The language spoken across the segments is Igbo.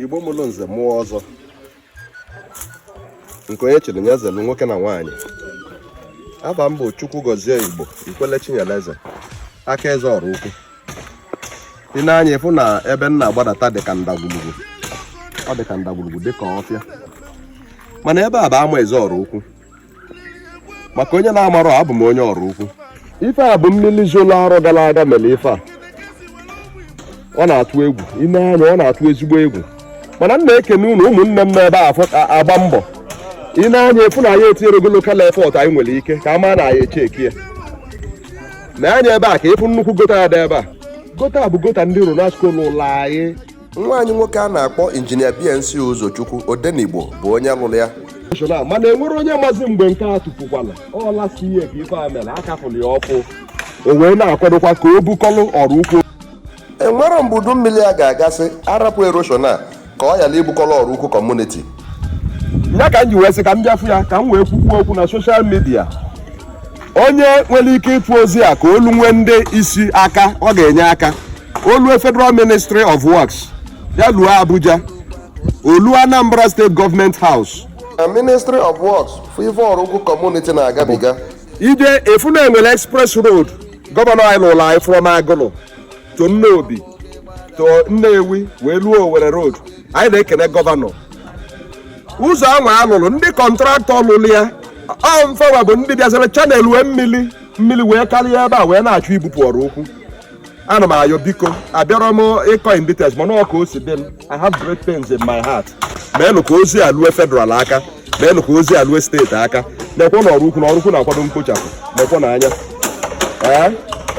igbo mụlụ nze mụọ ọzọ nke onye chiri ya zelu nwoke na nwaanyị afa m bụ chukwugọzie igbo ikwele chinyeleze aka eze oraukwu i nee anya ịfụ na ebe m na-agbadata dị ka ndagwurugwu ọ dị ka ndagwurugwu dị ka ọfịa mana ebe a bụ amaeze oraukwu maka onye na-amarọ abụ m onye oraukwu ife a bụ mmiri zolo arọ gara aga mere ife a ọ na-atụ egwu i nee anya ọ na-atụ ezigbo egwu mana m na-ekene unu ụmụnne m n'ebe a afọ- a- agba mbọ i nee anya ịfụ na anyị etinyerego local effort anyị nwere ike ka a maa na anyị echeki ya nee anya ebe a ka ịfụ nnukwu gọta a dị ebe a gọta bụ gọta ndị ronasco lụlụ anyị nwa anyị nwoke a na-akpọ injinia bnc ụzọchukwu odenigbo bụ onye lụrụ ya mana enwerọ onye mazi mgbe nke a tupukwala ọla si ihe ka ife a mere akafụlụ ya ọkụ o wee na-akwadokwa ka o bukọlụ oraukwu enwerọ mgbe udu mmiri a ga-agasị a rapụ erosion a ka ọ yala ibukọlụ oraukwu community ya ka m ji wee sị ka m bịa fụ ya ka m wee kwukwuo okwu na soshal midia onye nwere ike ịfụ ozi a ka o lunwee ndị isi aka ọ ga-enye aka o lue federal ministry of works ya luo abuja o luo anambra state government house na ministry of works fụ ife oraukwu community na-agabiga i je-afụ na e nwere express road gọvanọ anyị lụrụ anyị from agụlụ to nnobi to nnewi wee luo owerri road anyị na-ekene gọvanọ ụzọ ahụ a lụrụ ndị kọntraktọ lụrụ ya ọ mfawa bụ ndị bịazara channel wee mmiri mmiri wee karịa ebe a wee na-achọ ibupụ oraukwu ana m ayọ biko abịarọ m ịkọ in details mana ọ ka o si dị m i have great pains in my heart meenụ ka ozi a lue federal aka meenụ ka ozi a lue state aka nekwe na oraukwu na oraukwu na-akwado mkpochapụ nekwenụ anya Ee,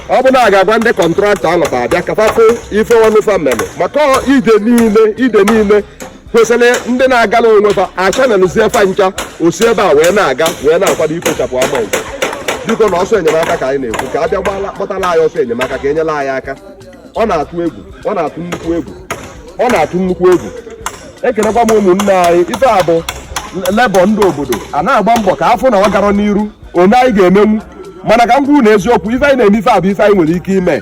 ọ bụ na a ga-agwa ndị kọntraktọ a lọta bịa ka fa fụ ife ọlụ fa mere maka ọ ide niile ide niile kwesịrị ịdị na-agala onwe fa a channelụzie fa ncha osi ebe a wee na-aga wee na-akwado ikpochapụ amaeze biko na ọsọ enyemaka ka anyị na-ekwu ka a bịa gbala gbatara anyị ọsọ enyemaka ka e nyela anyị aka ọ na-atụ egwu ọ na-atụ nnukwu egwu ọ na-atụ nnukwu egwu ekenekwa m ụmụnne anyị ife a bụ lebọ ndị obodo a na-agba mbọ ka a fụ na ọ gara n'iru one anyị ga-emenwu mana ka m kwuru na eziokwu ife anyị na-eme ife a bụ ife anyị nwere ike ime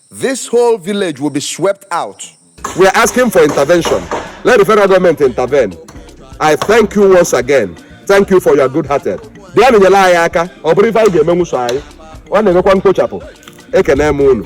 This whole village will be swept out. We are asking for intervention. Let the federal government intervene. I thank you once again. Thank you for your good hearted. Bịa nyere anyị aka ọ bụrọ ife anyị ga-emenwu so anyị ọ na-emekwa mkpochapụ ekene m unu